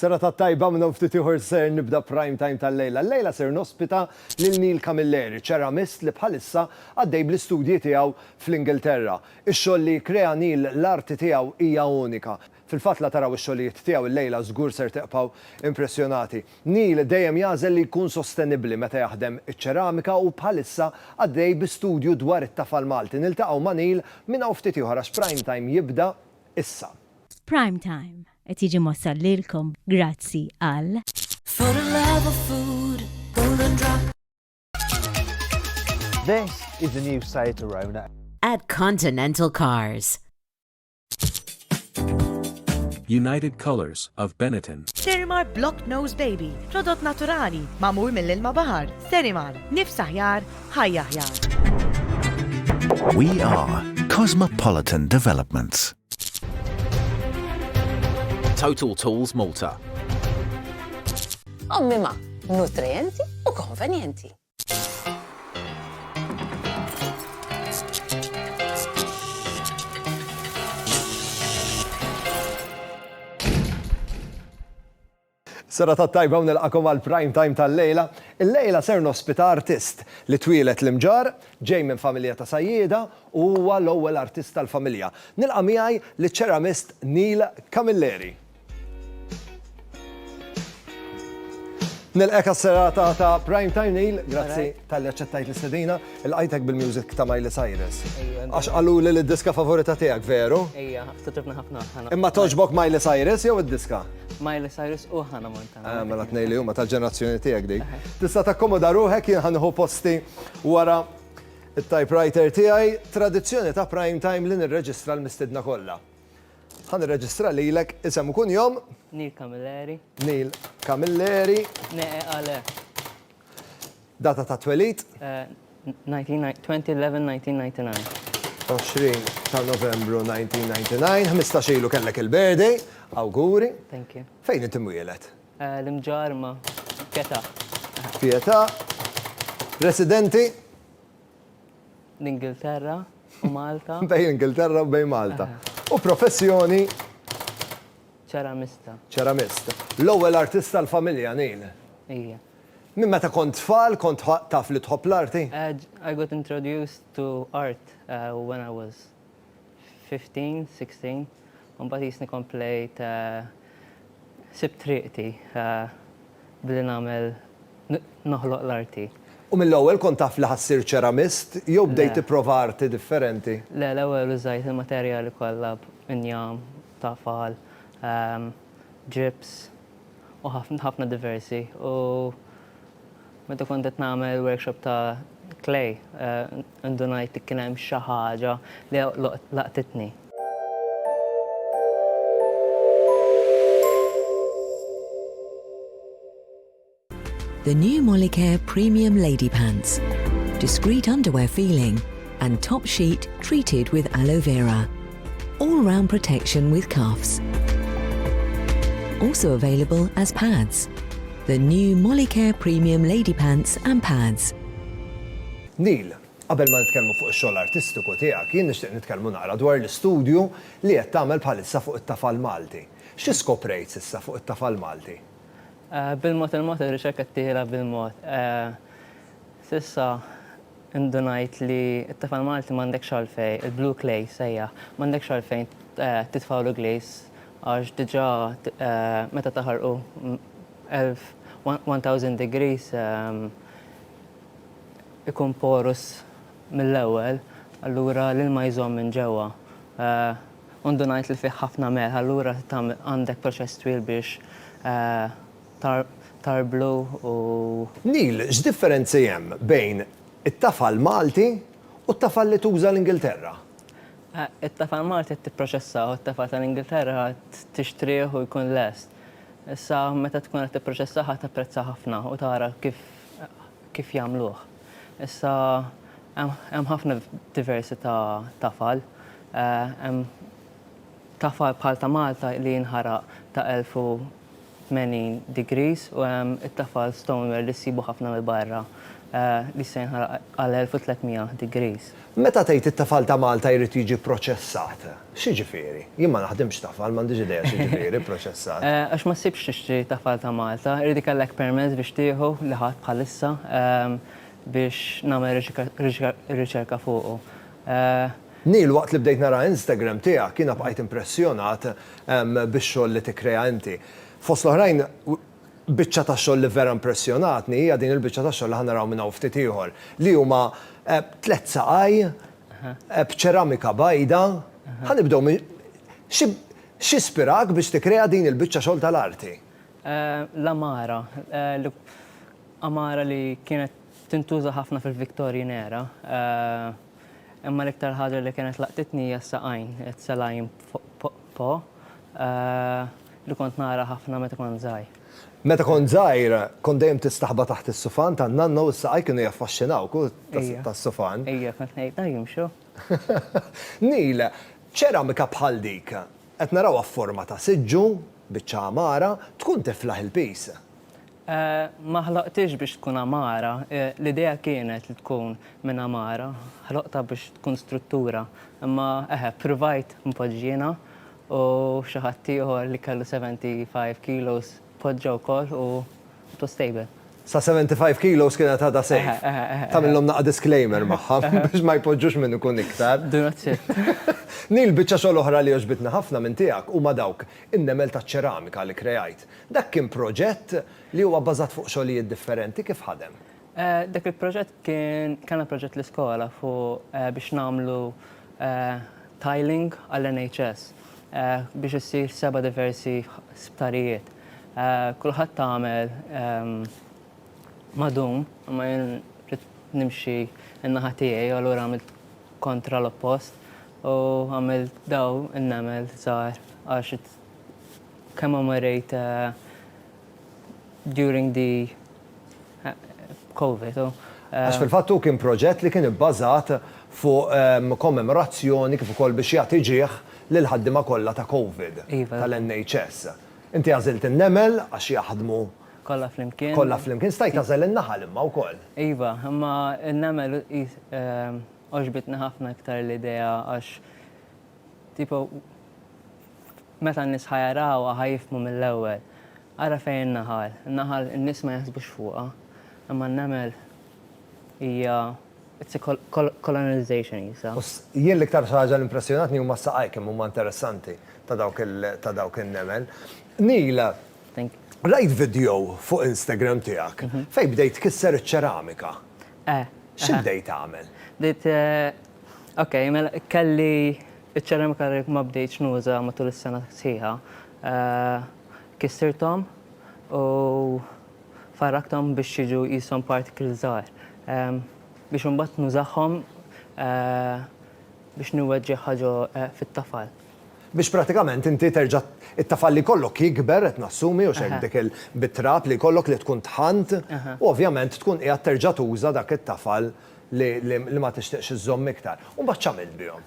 Serata tajba minn hawn ftit ieħor ser nibda Prime Time tal-lejla. Llejla ser nospita lil Neil Camilleri, ċeramist li bħalissa għaddej bl-istudji tiegħu fl-Ingilterra. Ix-xogħol li jikkrea Neil, l-arti tiegħu hija unika. Fil-fatt la taraw ix-xogħlijiet tiegħu llejla żgur ser tibqgħu impressjonati. Neil dejjem jagħżel li jkun sostenibbli meta jaħdem iċ-ċeramika u bħalissa għaddej bi studju dwar it-tafal Malti. Niltaqgħu ma' Neil minn hawn ftit ieħor għax Prime Time jibda issa. Prime Time. Qed jiġi mwassal lilkom grazzi għal. For the love of food, golden drop. This is the new Seat Arona. At Continental Cars. United Colors of Benetton. Sterimar Block Nose Baby, prodott naturali, mamur mill-ilma bahar. Sterimar, nifs aħjar, ħajja aħjar. We are Cosmopolitan Developments. Total Tools Malta. Ommima, nutrienti u konvenjenti. Serata tajba u nilqagħkom għall-prime time tal-lejla. Illejla ser nospita artist li twieled l-Imġarr, ġej minn familja ta' sajjieda u huwa l-ewwel artist tal-familja. Nilqa' miegħi liċ-ċeramist Neil Camilleri. Nilqek għas-serata ta' Prime Time Neil, grazzi talli aċċettajt l-istedina. Ilqajtek bil-music ta' Miley Cyrus. Għax qaluli li d-diska favorita tiegħek, veru? Ejja, ftitribna ħafna ħana. Imma togħġbok Miley Cyrus jew id-diska? Miley Cyrus u ħana Montana. Ah, mela tnej li huma tal-ġenerazzjoni tiegħek dik. Tista' takkomoda ruħek jien ħanħu posti wara it-typewriter tiegħi, tradizzjoni ta' prime time li nirreġistra l-mistidna kollha. Ħan irreġistra lilek isem u kunjom. Neil Camilleri. Neil Camilleri. Neqe għale. Data tat-twelid? 20 ta' Novembru 1999. Ħmistax ilu kellek il-birthday. Awguri. Thank you. Fejn int imwieled? L-Imġarma. Pietà. Pietà. Residenti? L-Ingilterra u Malta. Bejn l-Ingilterra u bejn Malta. U professjoni? Ċeramista. Ċeramist. L-ewwel artist tal-familja, Neil? Ija. Minn meta kont tfal kont taf li tħobb l-arti? I got introduced to art when I was fifteen, sixteen u mbagħad qisni komplejt sibt triqti billi nagħmel noħloq l-arti. U mill-ewwel kont taf li ħa ssir ċeramist jew bdejt tipprova arti differenti? Le, l-ewwel użajt il-materjali kollha, injam, tafal, ġips. u ħafna ħafna diversi u meta kont qed nagħmel workshop ta' clay indunajt li kien hemm xi ħaġa li laqtitni. The new Molicare Premium Lady Pants. Discreet underwear feeling. and top sheet treated with aloe vera. All round protection with cuffs. Also available as pads. The new Molicare Premium Lady Pants and Pads. Neil, qabel ma nitkellmu fuq ix-xogħol artistiku tiegħek, jien nixtieq nitkellmu naqra dwar l-istudju li qed tagħmel bħalissa fuq it-tafal Malti. Xi skoprejt s'issa fuq it-tafal Malti? Bil-mod il-mod ir-riċerka qed tiela' bil-mod. S'issa indunajt li t-tifel Malti m'għandekx għalfejn, il-blue clay jissejjaħ, m'għandekx għalfejn titfgħulu glaze għax diġà meta taħarqu elf, one thousand degrees, ikun porous mill-ewwel, allura l-ilma jżomm minn ġewwa. U ndunajt li fih ħafna melħ, allura għandek proċess twil biex tarblu u. Neil, x'differenzi hemm bejn it-tafal Malti u t-tafal li tuża l-Ingilterra? It-tafal Malti qed tipproċessah u t-tafal tal-Ingilterra tixtrih u jkun lest. Issa meta tkun qed tipproċessah ħa tapprezza ħafna u tara kif kif jagħmluh. Issa hemm ħafna diversi ta' tafal. Hemm tafal bħal ta' Malta li jinħaraq ta' elf u 80 degrees u hemm it-tafal stoneware li ssibu ħafna mill-barra li jista' jinħaraq għal 1300 degrees. Meta tgħid it-tafal ta' Malta jrid jiġi pproċessat, x'jiġifieri? Jien ma naħdimx tafal, m'għandix idea x'jiġifieri pproċessat. Għax ma ssibx tixtri tafal ta' Malta, irid ikollek permess biex tieħu li ħadt bħalissa biex nagħmel riċerka fuqu. Neil, waqt li bdejt nara Instagram tiegħek, jiena bqajt impressjonat bix-xogħol li tikkrea inti. Fost l-oħrajn, biċċa ta' xogħol li vera impressjonatni hija din il-biċċa ta' xogħol li ħa naraw minn hawn ftit ieħor, li huma tliet saqaj b'ċeramika bajda. Ħa nibdew minn, x'ispirak biex tikkrea din il-biċċa xogħol tal-arti? L-għamara, għamara li kienet tintuża ħafna fil-Victorian era. Imma l-iktar ħaġa li kienet laqtitni hija s-saqajn, għedt Salayim Pho, li kont nara ħafna meta kont żgħir. Meta kont żgħir, kont dejjem tistaħba taħt is-sufan tan-nanna u s-saqajk kienu jaffaxxinawk tas-sufan. Ija, kont ngħid, ah jimxu. Neil, Ċeramika bħal dik, qed narawha f'forma ta' siġġu, biċċa għamara, tkun tiflaħ il-piż. Ma ħloqtiex biex tkun għamara, l-idea kienet li tkun minn għamara, ħloqtha biex tkun struttura, imma eħe, ppruvajt npoġġiena u xi ħadd ieħor li kellu 75 kilos poġġa wkoll u it was stable. Sa 75 kilos kienet għadha safe. Eħe, eħe, eħe. Tagħmilhom naqa' disclaimer magħha biex ma jpoġġux minn ikun iktar. Do not shift. Neil, biċċa xogħol oħra li għoġbitni ħafna minn tiegħek huma dawk in-nemel taċ-ċeramika li kkrejajt. Dak kien proġett li huwa bbażat fuq xogħlijiet differenti, kif ħadem? Dak il-proġett kien, kellna proġett l-iskola fuq biex nagħmlu tiling għall-NHS biex issir seba' diversi sptarijiet. Kulħadd għamel madum, imma jien ridt nimxi n-naħa tiegħi u allura għamilt kontra l-oppost u għamilt dawn in-nemel żgħar għax Kemm marrejt during the Covid u. Għax fil-fatt hu kien proġett li kien ibbażat fuq kommemorazzjoni kif ukoll biex jagħti ġieh lill-ħaddiema kollha ta' Covid tal-NHS. Inti għażilt in-nemel għax jaħdmu. Kollha flimkien. Kollha flimkien. Stajt tagħżel in-naħal imma wkoll. Iva, imma n-nemel għoġbitni ħafna iktar l-idea għax tipo Meta n-nies ħa jarawha ħa jifhmu mill-ewwel. Ara fejn in-naħal. In-naħal in-nies ma jaħsbux fuqha, imma n-nemel hija it's a colonization qisha. U jien l-iktar ħaġa li impressjonatni huma s-saqajk kemm huma interessanti ta' dawk ta' dawk in-nemel. Neil, rajt vidjow fuq Instagram tiegħek fejn bdejt tkisser iċ-ċeramika. Eh. Xi bdejt tagħmel? Bdejt Ok, mela kelli iċ-ċeramika li ma bdejtx nuża matul is-sena sħiħa. Kissirthom u farrakthom biex jiġu qishom particles żgħar. Biex imbagħad nużahom biex niweġġeħ ħaġa fit-tafal. Biex prattikament inti terġa' t-tafal li jkollok jikber qed nassumi u x'hekk dik il-bit-trab li jkollok li tkun tħannt u ovvjament tkun qiegħed terġa' tuża dak it-tafal li ma tixtieqx iżżomm iktar. U mbagħad x'għamilt bihom?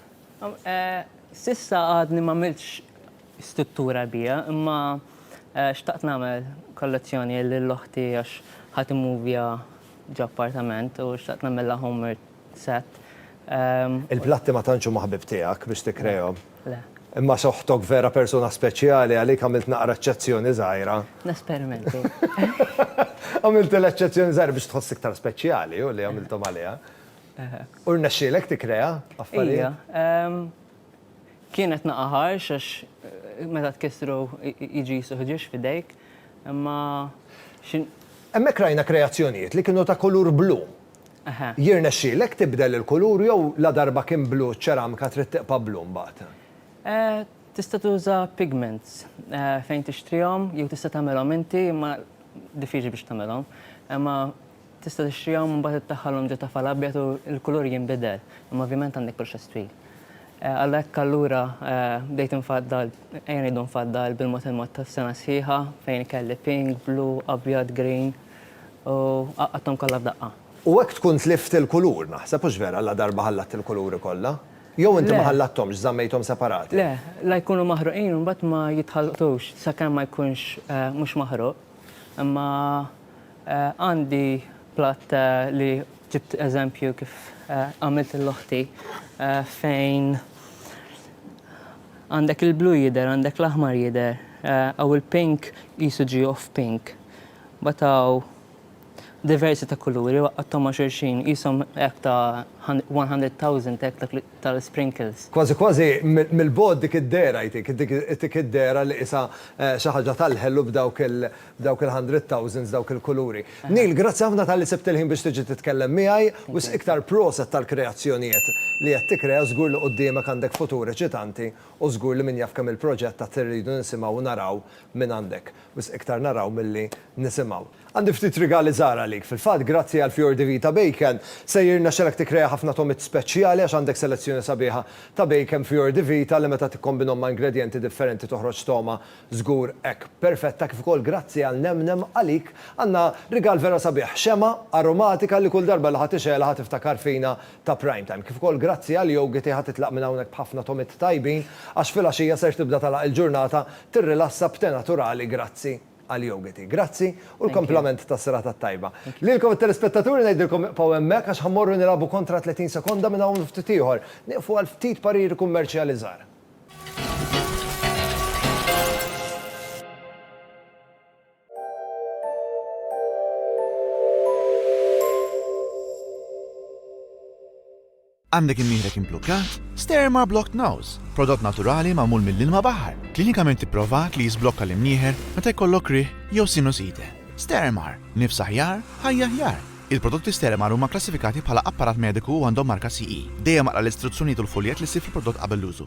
S'issa għadni m'għamiltx struttura biha, imma xtaqt nagħmel kollezzjoni lil oħti għax ħa timmovja ġo appartament u xtaqt nagħmilha home set. Il-platti ma tantx huma ħbieb tiegħek biex tikkrejahom? Le. Imma għax oħtok vera persuna speċjali għalik għamilt naqra eċċezzjoni żgħira. Nesperimenti. Għamiltilha eċċezzjoni żgħira biex tħoss iktar speċjali u li għamilthom għaliha. U rnexxielek tikkrea affarijiet? Kienet naqa' ħarx għax eh, meta tkissru jiġi suħġiex fidejk, imma Hemmhekk rajna kreazzjonijiet li kienu ta' kulur blu. Jirnexxielek tibdel il-kulur jew ladarba kien blu ċ-ċeramika trid tiqpa' blu mbagħad? Tista' tuża pigments fejn tixtrihom jew tista' tagħmilhom inti imma diffiċli biex tagħmilhom. Imma tista' tixtrihom u mbagħad iddaħħalhom ġo tafal abjad u l-kulur jinbidel, imma ovvjament għandek proċess twil. Għalhekk allura bdejt infaddal, ejja ngħidu nfaddal bil-mod il-mod tas-sena sħiħa fejn kelli pink, blu, abjad, green. U għaqqadthom kollha f'daqqa. U hekk tkun tlift il-kulur, naħseb, hux vera, ladarba ħallatt il-kuluri kollha? Jew inti ma ħallathomx, żammejthom separati? Le, la jkunu maħruqin u mbagħad ma jitħalltux sakemm ma jkunx mhux maħruq. Imma għandi platt li ġibt eżempju kif għamilt lil oħti fejn għandek il-blu jidher, għandek l-aħmar jidher, u l-pink qisu ġie off-pink. Batgħu diversi ta' kuluri u għaqqadthom ma' xulxin, qishom hekk ta' one hundred thousand hekk dak tal-sprinkles. Kważi kważi mill-bogħod dik id-dehra jtik, jtik id-dehra li qisha xi ħaġa tal-ħelu b'dawk il-hundred thousands, dawk il-kuluri. Neil, grazzi ħafna talli sibt il-ħin biex tiġi titkellem miegħi, wisq iktar proset tal-kreazzjonijiet li qed tikkrea, żgur li quddiemek għandek futur eċitanti u żgur li min jaf kemm il-proġett għad irridu nisimgħu u naraw mingħandek. Wisq iktar naraw milli nisimgħu. Għandi ftit rigali żgħar għalik. Fil-fatt, grazzi għal Fior di Vita Bacon, se jirnexxelek tikkrea ħafna togħmiet speċjali għax għandek selezzjoni sabiħa ta' bacon Fior di Vita li meta tikkombinhom ma' ingredjenti differenti toħroġ togħma żgur hekk perfetta kif ukoll grazzi għal Nemnem għalik għandna rigal vera sabiħ, xemgħa aromatika li kull darba li ħa tixgħelha ħa tiftakar fina ta' Prime Time. Kif ukoll grazzi għal Yogi tiegħha titlaq minn hawnhekk b'ħafna tomiet tajbin għax filgħaxija ser tibda tagħlaq il-ġurnata tirrilassa b'te naturali grazzi għal Yogi Tea. Grazzi u l-komplament tas-serata t-tajba. Lilkom it-telespettaturi ngħidilkom ibqgħu hemmhekk għax ħa mmorru nilagħbu kontra 30 sekonda minn hawn u ftit ieħor. Nieqfu għal ftit pariri kummerċjali żgħar. Għandek imnieħrek imblukkat? Sterma Blocked Nose, prodott naturali magħmul mill-ilma baħar, klinikament ipprovat li jiżblokka l-imnieħer meta jkollok rih jew sinusite. Stermar, nifs aħjar, ħajja aħjar. Il-prodotti Stermar huma klassifikati bħala apparat mediku u għandhom marka CE. Dejjem aqra l-istruzzjonijiet u l-fuljett li ssib fil-prodott qabel l-użu.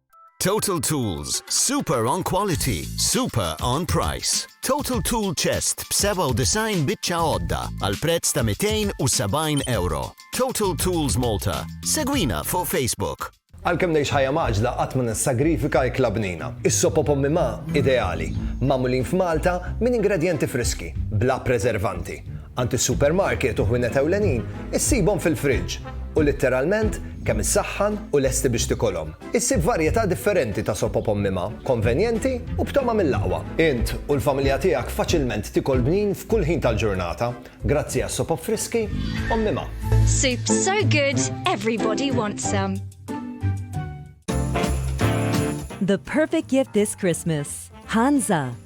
Total Tools, super on quality, super on price. Total Tool Chest b-97 biċċa għodda għal prezz ta' 270 euro. Total Tools Malta. Segwina fuq Facebook. Għalkemm ngħix ħajja maġla qatt ma nissagrifika ikla bnina. Is-sopo pommi ma' ideali, magħmulin f'Malta minn ingredjenti friski, bla preservanti. Għand is-supermarket u ħwienet ewlenin issibhom fil-friġġ u litteralment kemm issaħħan u lesti biex tikolhom. Issib varjetà differenti ta' soppa b'ommimha, konvenjenti u b'togħma mill-aqwa. Int u l-familja tiegħek faċilment tikol bnin f'kull ħin tal-ġurnata grazzi għas-sopop friski ommimha. Soup so good, everybody wants some. The perfect gift this Christmas. Hansa.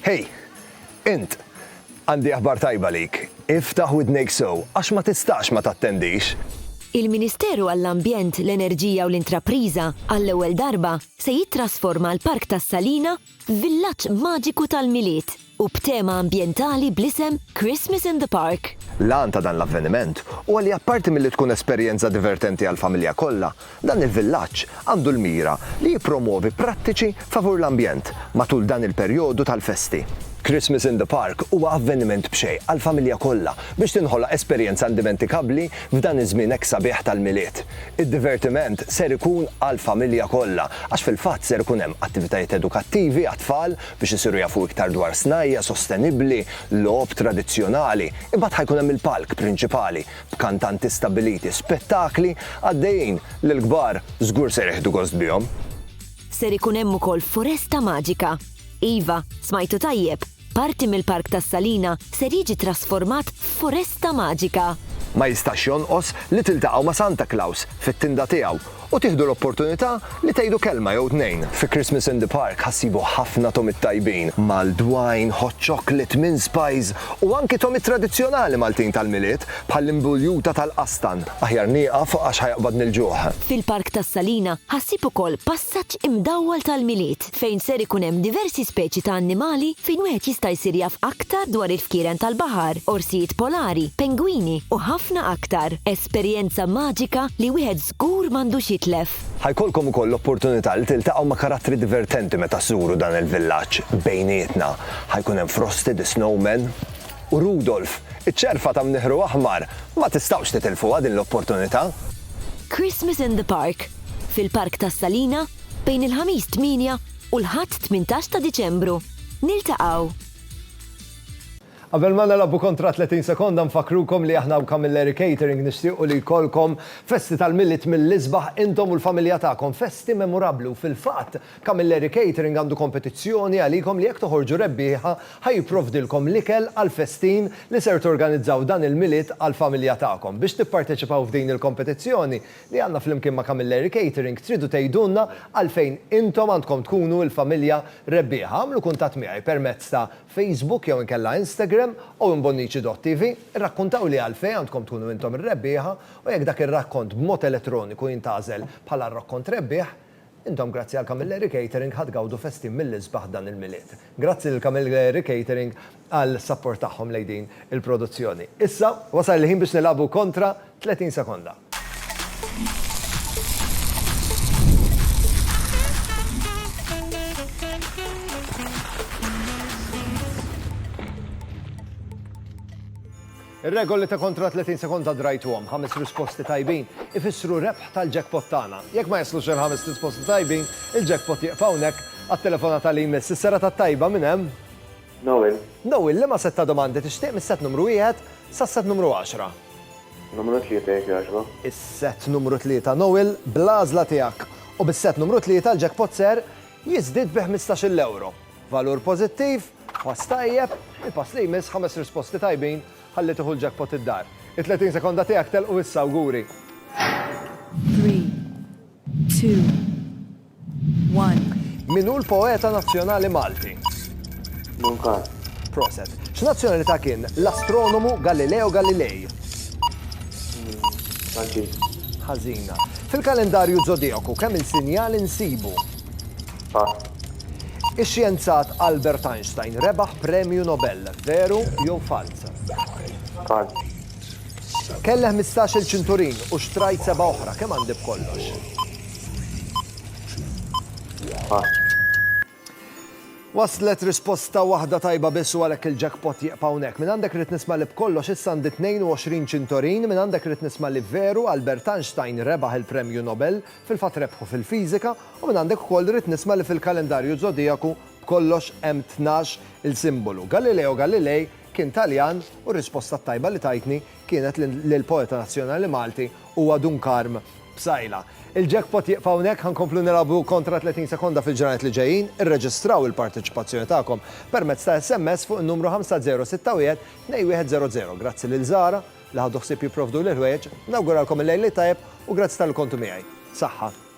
Hej, int, għandi aħbar tajba lik. Iftaħ widnejk sow, għax ma tistax ma tattendix. Il-Ministeru għall-Ambjent, l-Enerġija u l-Intrapriża, għall-ewwel darba, se jittrasforma l-Park tas-Salina Villaġġ maġiku tal-Milied u b'tema ambjentali bl-isem Christmas in the Park. L-għan ta' dan l-avveniment huwa li apparti milli tkun esperjenza divertenti għall-familja kollha, dan il-villaġġ għandu l-mira li jippromwovi prattiċi favur l-ambjent matul dan il-perjodu tal-festi. Christmas in the Park huwa avveniment b'xejn għall-familja kollha biex tinħoloq esperjenza indimentikabbli f'dan iż-żmien hekk sabiħ tal-Milied. Id-divertiment ser ikun għall-familja kollha għax fil-fatt ser ikun hemm attivitajiet edukattivi għat-tfal biex isiru jafu iktar dwar snajja' sostenibbli, logħob tradizzjonali, imbagħad ħa jkun hemm il-palk prinċipali b'kantanti stabbiliti, spettakli għaddejjin li l-kbar żgur ser jieħdu gost bihom. Ser ikun hemm ukoll foresta maġika. Iva, smajtu tajjeb! Parti mill-Park tas-Salina ser jiġi trasformat f'foresta maġika. Ma jistax jonqos li tiltaqgħu ma' Santa Claus fit-tinda tiegħu u tieħdu l-opportunità li tgħidu kelma jew tnejn. Fi Christmas in the Park ħa ssibu ħafna tomiet tajbin, mal-dwajn, hot chocolate, mince pies u anki tomiet tradizzjonali Maltin tal-Milied bħall-imbuljuta tal-qastan. Aħjar nieqaf għax ħa jaqbadni l-ġuħ. Fil-Park tas-Salina ħa ssib ukoll passaġġ imdawwal tal-Milied. fejn ser ikun hemm diversi speċi ta' annimali fejn wieħed jista' jsir jaf aktar dwar il-fkieren tal-baħar, orsijiet polari, pengwini u ħafna aktar. Esperjenza maġika li wieħed żgur m'għandux jitlef. Ħa jkollkom ukoll l-opportunità li tiltaqgħu ma' karattri divertenti meta żżuru dan il-villaġġ bejnietna. Ħa jkun hemm Frosty the Snowman u Rudolf, iċ-ċerfa ta' mniħru aħmar. Ma tistgħux titilfuha din l-opportunità! Christmas in the Park. fil-Park tas-Salina bejn il-Ħamis 8 u l-Ħadd 18 ta' Diċembru. Niltaqgħu! Qabel ma nilgħbu kontra 30 sekonda nfakkrukom li aħna hawn Camilleri Catering nixtiequ li jkollkom festi tal-Milied mill-isbaħ intom u l-familja tagħkom, festi memurabbli u fil-fatt Camilleri Catering għandu kompetizzjoni għalikom li jekk toħorġu rebbieħa ħa jipprovdilkom l-ikel għall-festin li ser torganizzaw dan il-Milied għall-familja tagħkom. Biex tipparteċipaw f'din il-kompetizzjoni li għandna flimkien ma' Camilleri Catering tridu tgħidulna għalfejn intom għandkom tkunu il-familja rebbieħa. Agħmlu kuntatt miegħi permezz ta' Facebook jew inkella Instagram owenbonnici.tv, irrakkuntawli għalfejn għandkom tkunu intom ir-rebbieħa u jekk dak ir-rakkont b'mod elettroniku jintgħażel bħala r-rakkont rebbieħ, Intom grazzi għal Camilleri Catering ħa tgawdu festin mill-isbaħ dan il-Milied. Grazzi lil Camilleri Catering għal sapport tagħhom lejn din il-produzzjoni. Issa, wasal il-ħin biex nilagħbu kontra 30 sekonda. Ir-regoli ta' kontra 30 sekonda drajtuhom, ħames risposti tajbin ifissru rebħ tal-jackpot tagħna. Jekk ma jaslux il-ħames risposti tajbin, il-jackpot jieqaf hawnhekk għat-telefonata li jmiss. Is-serata t-tajba minn hemm? Noel. Noel, liema sett ta' domandi tixtieq mis-sett numru wieħed sas-sett numru għaxra? Numru tlieta jekk jogħġbok. Is-sett numru tlieta, Noel, bl-għażla tiegħek u bis-sett numru tlieta l-jackpot ser jiżdied bi ħmistax-il ewro. Valur pożittiv? Pass tajjeb, il-pass li jmiss, ħames risposti tajbin, ħalli tieħu l-jackpot id-dar. It-30 sekonda tiegħek telqu issa, awguri! Three, two, one. Min hu l-poeta nazzjonali Malti? Munkan. Proset. X'nazzjonalità kien l-astronomu Galileo Galilei? Franċiż. Ħażina. Fil-kalendarju zodijaku kemm il-sinjal insibu? Pass. Ix-xjenzat Albert Einstein rebaħ Premju Nobel, veru jew falz? Falz. Kelli ħmistax-il ċinturin u xtrajt seba' oħra, kemm għandi b'kollox? Pass. Waslet risposta waħda tajba biss u għalhekk il-jackpot jieqpa hawnhekk. Minn għandek rrid nisma' li b'kollox issa għandi 22 ċintorin, minn għandek rrid nisma' li veru Albert Einstein rebaħ il-Premju Nobel, fil-fatt rebħu fil-fiżika, U minn għandek ukoll irrid nisma' li fil-kalendarju żodijaku b'kollox hemm tnax il simbolu. Galileo Galilei kien Taljan u r-risposta t-tajba li tajtni kienet li l-poeta nazzjonali Malti huwa Dun Karm Psaila. Il-jackpot jieqfa hawnhekk, ħa nkomplu nilgħabu kontra 30 sekonda fil-ġranet li ġejjin. Irreġistraw il-parteċipazzjoni tagħkom permezz ta' SMS fuq in-numru 50612100. Grazzi lil Zara li ħadu ħsieb jipprovduli l-ħwejjeġ. Nawguralkom il-Lejl it-Tajjeb u grazzi talli kontu miegħi. Saħħa.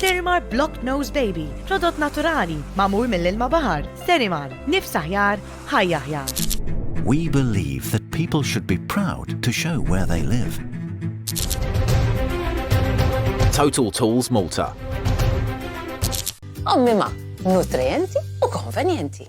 Sterimar Block Nose Baby, prodott naturali, magħmul mill-ilma baħar. Sterimar, nifs aħjar, ħajja aħjar. We believe that people should be proud to show where they live. Total Tools Malta. Ommima, nutrienti u konvenjenti.